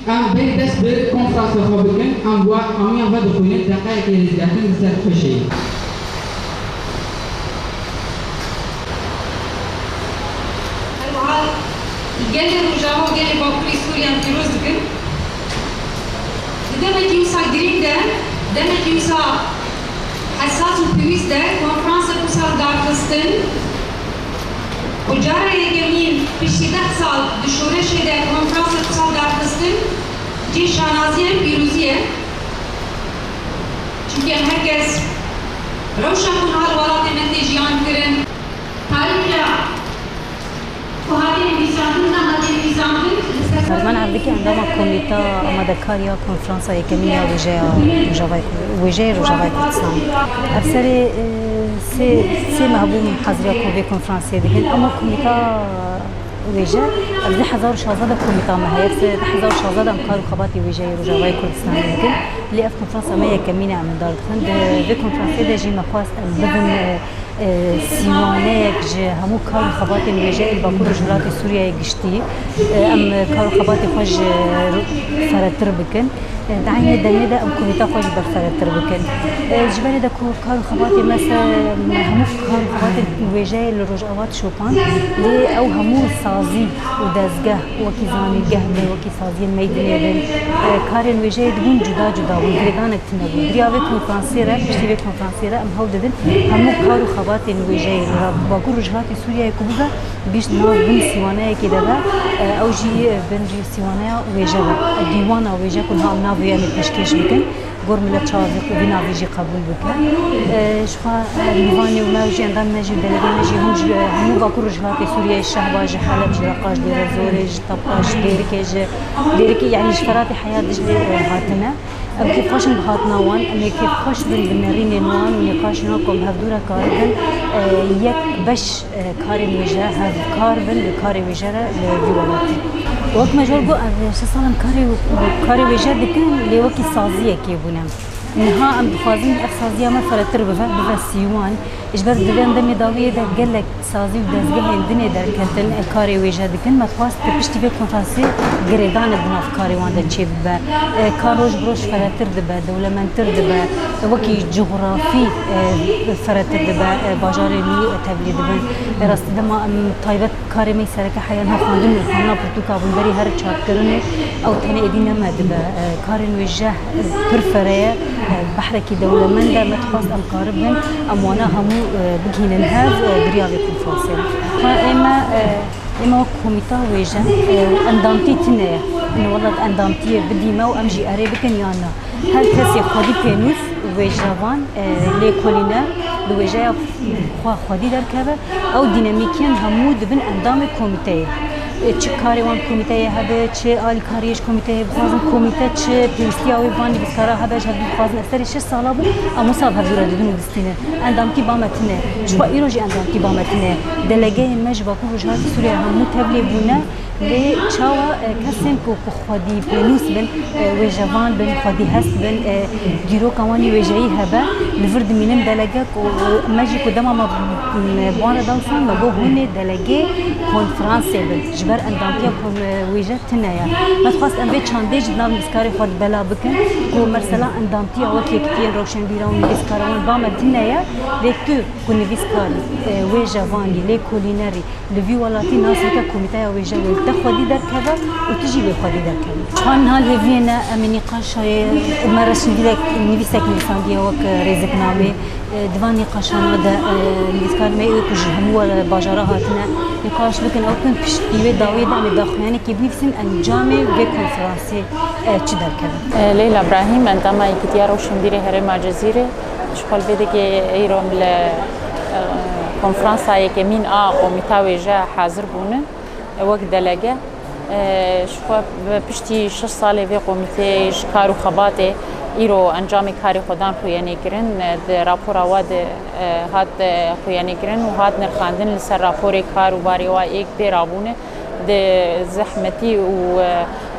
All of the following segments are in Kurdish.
Em bên dest bi konfrasa xwe bikin, em wa amiyan vedixwînin deqeyekê rêzgirtin li ser xweşeyê. Herwiha gelê Rojava û gelê Bakurê Sûriyan pîroz dikin. Di demekî wisa girîng de, demekî wisa hesas û pêwîst de konferansa du sal darxistin û cara yekemîn piştî deh sal di şoreşê de konferansa du sal darxistin cih şanaziya em pîrozî ye. Çimkî em her kes rewşa ku niha li welatê me tê jiyankirin, tarixiya. Ku hate nivîsandin na hate nivîsandin li ser Ferman Evdikî endama Komîta Amadekar ya Konferansa Yekemîn ya Wêjeya Rojavayê Wêjeyê Rojavayê Kurdistanê. Ev serê sê sê meh bû haziriya ku vê konferansiyê dikin ema komîta wêje ev di hezar û şazdeh de komîta me heye di hezar û şazdeh de em kar û xebatê wêjeyê Rojavayê Kurdistanê dikin lê ev konferansa me yekemîn e em li dar dixin di vê konferansiyê de jî me xwest em bibin Sîwaneyek ji hemû kar û xebatên wêje ên Bakur Rojhilatê Sûriyeyê giştî. Em kar û xebatê xwe ji feretir bikin. Di eynê demê de em komîta xwe jî berferetir bikin. Ji berê de ku kar û xebatê me se hemû kar û xebatên wêjeyê li Rojava dişopand, lê ew hemû sazî û dezgeh wekî zanîngeh bin, wekî saziyên meydinê bin, karên wêjeyê dibûn cuda cuda bûn, girêdanek tune bû. Diriya vê konferansê re, piştî vê konferansê re em Hewl didin hemû kar û xebatên wêjeyê li Bakur Rojhilatê Sûriyeyê ku bibe gişt nav bin sîwaneyekê de be, ew jî bin jî sîwaneya wêje be. Dîwana wêje ku niha em navê em ê pêşkêş bikin, gor millet çawa vê vî navê jî qebûl bike. Jixwe Lîvanê û me jî endamên me jî delegeyên me jî hûn ji hemû Bakur Rojhilatê Sûriyeyê ji Şehba, ji Heleb, ji Reqa, ji Dêrezorê, ji Tapa, ji Dêrikê, ji Dêrikê yanî ji Feratê heya Diclê hatine. Ev kêfxweş in bi hatina wan, em ê kêfxweş bin bi nêrînên wan û nîqaşên wan ku em hev dû re karibin yek beş karên wêje hevkar bin li karê wêje re li vî welatî. Wek me ji wan got ev şeş sal em karê karê wêje dikin lê wekî saziyekê bûn em. Niha em dixwazin ev saziya me firehtir bibe, bibe sîwan. Ji ber di vê demê dawiyê de gelek sazî û dezgehên dinê derketin ên karê wêje dikin, me xwest di piştî vê konferansê girêdanê di nav karê wan de çê bibe. Kar roj bi roj ferehtir dibe, dewlemendtir dibe, wekî cografî ferehtir dibe, bajarê nû tevlî dibin. Rastî dema em taybet karê me yê sereke heya niha xwendin û xwendina pirtûka bûn berî her çarkirinê ew tenê êdî ne me dibe. Karên wêje pir fere ye, behrekî dewlemend e, me dixwest em karibin em wana hemû bigihînin hev biriya vê konferansê re. Xwe ême ême wek komîta wêjin endamtî tune ye. Min welat endamtiyê bidî me û em jî erê bikin yan na. Her kesê xwedî pênûs û wêjevan lêkolîne bi wêjeya xwe xwedî derkeve, ew dînemîkên hemû dibin endamê komîteyê. Çi karê wan komîteyê hebe, çi alîkariyê ji komîteyê bixwazin, komîte çi pêwîstiya wê bi van lîbîska re hebe ji hev dî dixwazin. Ez serê şeş sala bû em wisa bi hev dû re didin û distînin. Endamkî ba me tune. Jixwe îro jî endamkî ba me tune. Delegeyên me ji Bakur Rojhilatê Sûriyeyê hemû tevlî bûne lê çawa kesên ku ku xwedî pênûs bin, wêjevan bin, xwedî hest bin, dîroka wan yê wêjeyî hebe li vir dimînin. Delege ku me jî ku dema me bi wan re da wisa me got hûn ê, Delegê konfransê bin ji ber endamtiya komwêje tune ye. Me dixwest em vê çandê ji di nav nivîskarê xwe de bela bikin ku mesela endamtiya wek Yekitiyên Rewşenbîran û Nivîskara wan ba me tune ye lê tu ku nivîskarî, wêjevanî, lêkolînerî li vî welatî nas bike Komîteya Wêje wê li te xwedî derkeve û tu jî wê xwedî derkevî. Ka niha lê viyê ne em ê nîqaşayê me resmî dilek nivîsek nivîsandiye wek rêziknamê, Di van nîqaşana de nivîskarên me ê ku ji hemû bajara hatine nîqaş bikin ew bikin pişt di wê dawiyê de em ê daxuyanekê binivîsin encamê vê konferansê çi derkeve. Leyla Brahîm, endama Yekîtiya Rewşenbîrê Herêma Cizîrê ji xwe li vê dike îro li konferansa yekemîn a komîta wêje hazir bûne wek delege. Ji xwe piştî şeş salê vê komîtê ji kar û xebatê îro encamê karê xwe dan xwêyenêkirin. Di rapora we de hat xwêyenêkirin û hat nirxandin li ser raporê kar û barê we êk pê re bûne. Di zehmetî û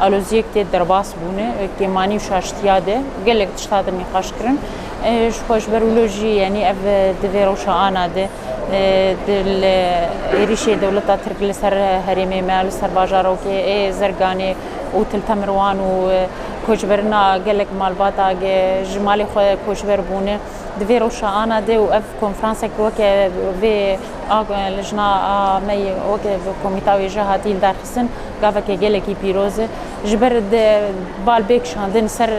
aloziyek tê derbas bûne. Kêmanî û şaştiya de gelek tişt hate nîqaşkirin. Ji xwe ji ber wilo jî yanî ev di vê rewşa ana de Di êrîşê dewleta Tirk li ser herêmê me, li ser bajarokê ê Zirganê û Til Temirwan û koçberina gelek malbata ji malê xwe koçber bûne, di vê roşana de û ev konferansek weke vê a lijna a me yê weke komîta wê jî hatî lidarxistin gaveke gelekî pîroz e. Ji ber bal bê kişandin ser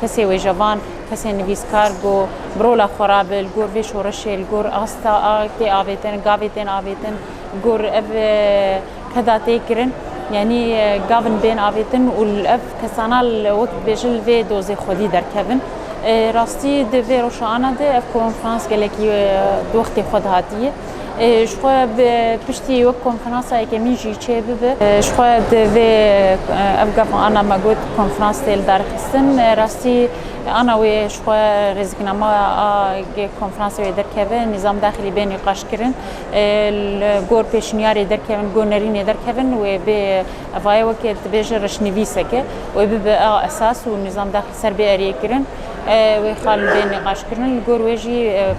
kesê wêjevan, Kesên nivîskar ku bi rola xwe re bi li gor vê şoreşê, li gor asta a tê avêtin, gavê tên avêtin, li gor ev keda tê kirin, yanî gavin bên avêtin û ev kesana wek dibêjin li vê dozê xwedî derkevin. Rastî di vê roşana de ev konferans gelekî di wextê xwe de hatiye. Ji xwe bi piştî wek konferansa yekemîn jî çê bibe. Ji xwe di vê ev gef ana me got konferans tê li dar xistin. Rastî ana wê ji xwe rêziknama a konferansê wê derkeve nîzam daxilî bê nîqaş kirin. Li gor pêşniyarê derkevin, gor nerînê derkevin wê bê evayê wekê dibêje reşnivîseke wê bibe a esas û nîzam daxilî ser bê eriyê kirin. Wê xal li bê nîqaşkirinin li gor wê jî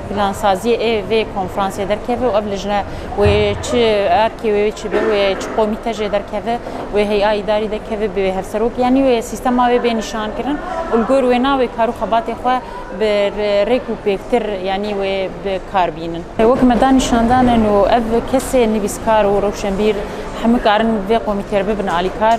plansaziyê ê vê konferansê derkeve û ev lijne wê çi erkê wê çi be wê çi komîte jê derkeve wê heya îdarî dekeve bi wê hevserok yanî wê sîstema wê bê nîşankirin û li gor wê na wê kar û xebatê xwe bi rêk û pêktir yanî wê bi kar bînin. Wek me da nîşandanin û ev kesê nivîskar û rewşenbîr heme karin vê komîtê re bibin alîkar.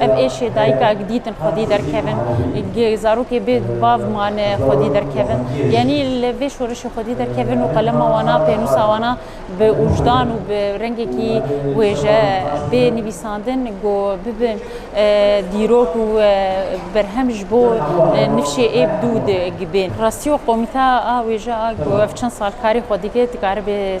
Ev êşê dayikek dîtin xwedî derkevin, zarokê bê bav mane xwedî derkevin. Yanî li vê şorişê xwedî derkevin û qelema wan a, pênûsa wan a bi ûjdan û bi rengekî wêje bê nivîsandin ku bibin dîrok û berhem ji bo nifşê êb dû digibên. Rastî û qomîte a wêje a ku ev çend sal karî xwe dike dikare bê